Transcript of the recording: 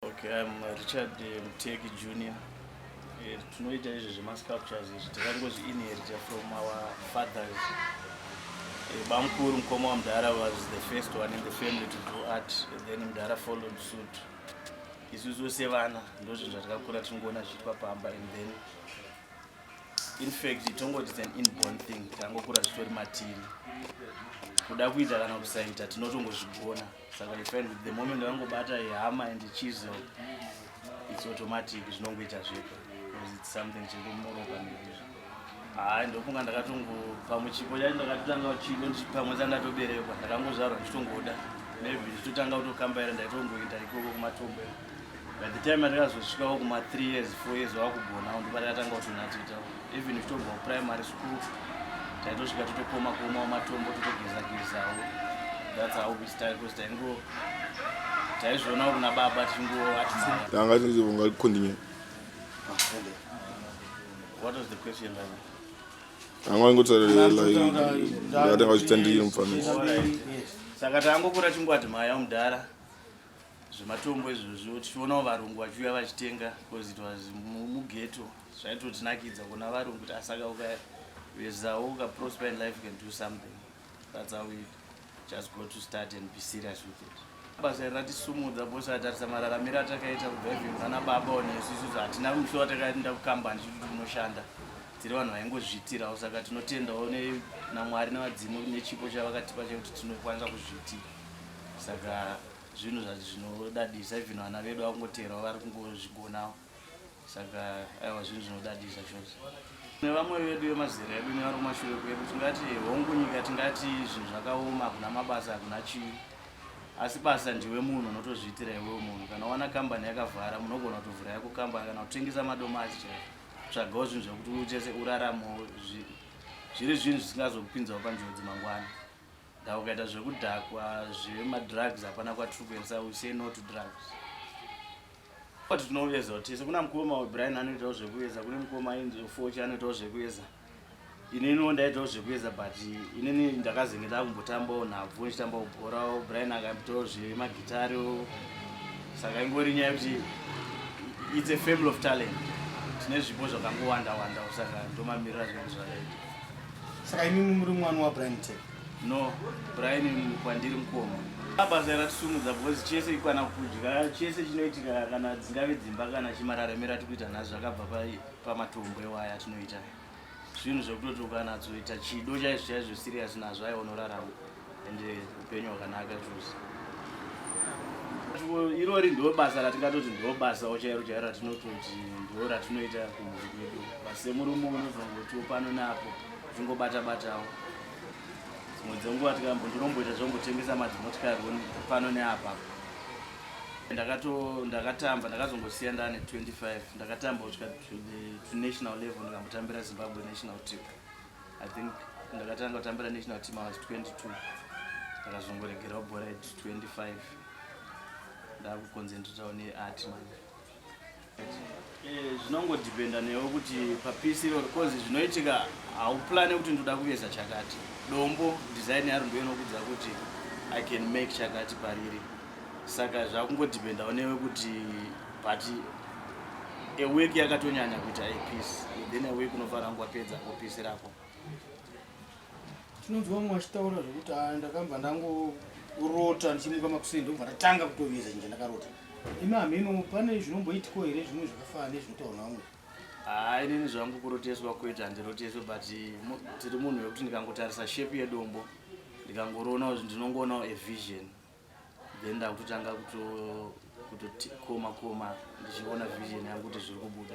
Okay, I'm uh, Richard uh, Mteki Junior. Eh, tinoita izvi zvemasculptures izvi takangozviinherita from our fathers eh, bamukuru mukoma wamudhara was the first one in the family to do art then mudhara followed suit isusu sevana ndozvinhu zvatakakura tinongoona zviitwa pamba and then in fact tongoti than inborn thing takangokura zvitori matiri kuda kuita kana kusaita tinotongozvigona saka i find the moment vangobata ihama and chisel its automatic zvinongoita zvepo because its something chirikumoroka nezvizvo haa ndofunga ndakatongo pamwe chipo chai ndakatotanga chipo pamwe chandatoberekwa ndakangozvarwa ndichitongoda maybe ndichitotanga kutokambaira ndaitongoenda ikoko kumatombo by the time atakazosvikawo kuma three years four years wakugonawo ndipatakatanga kutonatita even titobva kuprimary school taitosvika totokoma kuomawo matombo totogezagezawo that's how we start because taingo taizvionawo kuna baba tichingoatiungakondinyaya what was the question like? anga ingotsaatanga zvitandirira mufana saka tangokura chingwati mhaya mudhara zvematombo izvozvo tichionawo varungu vachiuya vachitenga because it was mugeto zvaitotinakidza kuona varungu kuti asaka ukavezawo ukaprosper in life can do something that's how we just go to start and be serious with it basa iri ratisumudza bose atarisa mararamiro atakaita kudriving vana baba one isusu hatina musho watakaenda kukambani chituti kunoshanda tiri vanhu vaingozviitirawo saka tinotendawo namwari nevadzimu nechipo chavakatipa chekuti tinokwanisa kuzviitira saka zvinhu zvacho zvinodadisa even vana vedu vakungoteerawo vari kungozvigonawo saka aiwa zvinhu zvinodadisa chose nevamwe vedu vemazera edu nevari kumashure kwedu tingati hongu nyika tingati zvinhu zvakaoma hakuna mabasa hakuna chii asi basa ndiwe munhu unotozviitira iwewo munhu kana wana kambani yakavhara munogona kutovhura yako kambani kana kutengesa madomasi chai tsvagawo zvinhu zvekuti uchese uraramo zviri zvinhu zvisingazokupinzawo panjodzi mangwana Nda ukaita zvekudhakwa zvema drugs hapana kwatiri kuendesa we say no to drugs. But tinovezwa tese kuna mukoma Brian anoitawo zvekuveza kune mukoma ainzi Fochi anoitawo zvekuveza. Inini ndaitawo zvekuveza but inini ndakazenge ndakumbotambawo nhabvu ndichitambawo bhorawo Brian akambitawo zvemagitariwo saka ingori nyaya yekuti it's a family of talent tine zvipo zvakangowanda wanda saka ndomamirira zvinhu zvakaita Saka imi muri mwana wa Brian Tech? No, Brian kwandiri mukoma. Basa ratisumudza because chese ikwana kudya chese chinoitika kana dzingave dzimba kana chimararemera tikuita nhasi zvakabva pamatombo ewaya atinoita zvinhu zvekutoti ukanazoita chido chaizvo chaizvo serious nazvo aiwa unorarama ende eh, upenyu hwakanaka chose irori ndo basa ratingatoti ndo basa ochairo chairo ratinototi ndo ratinoita kumhuri kwedu basemurume unozongotiwo pano napo zvingobata batawo dzimwe dzenguva tikambo ndinomboita zvongotengesa madzimotikari pano neapa ndakato ndakatamba ndakazongosiya ndane 25 ndakatamba kusvika to national level ndikambotambira zimbabwe national team i think ndakatanga kutambira national team i was 22 ndakazongoregerawo bhora at 25 ndakuconcentratawo neart manje eh, zvinongodependa newo kuti papisi iroro bcause zvinoitika hauplane kuti ndoda kuveza chakati dombo design yaro ndo inokudza kuti i can make chakati pariri saka zvakungodependawo newe kuti but a week yakatonyanya kuita a peace then a week unobva rangu wapedza kupeace rako tinonzwa mumwe achitaura zvekuti ah, ndakabva ndangorota ndichimuka makuseni ndobva ndatanga kutoveza chinja ndakarota imi hameno pane zvinomboitiko here zvimwe zvakafana nezvinotaura namwe haa ah, inini zvangu kuroteswa kuita handiroteswe but tiri munhu wekuti ndikangotarisa shape yedombo ndikangoroona kuti ndinongoonawo evision then ndakutotanga kutokoma koma ndichiona vision yangu kuti zviri kubuda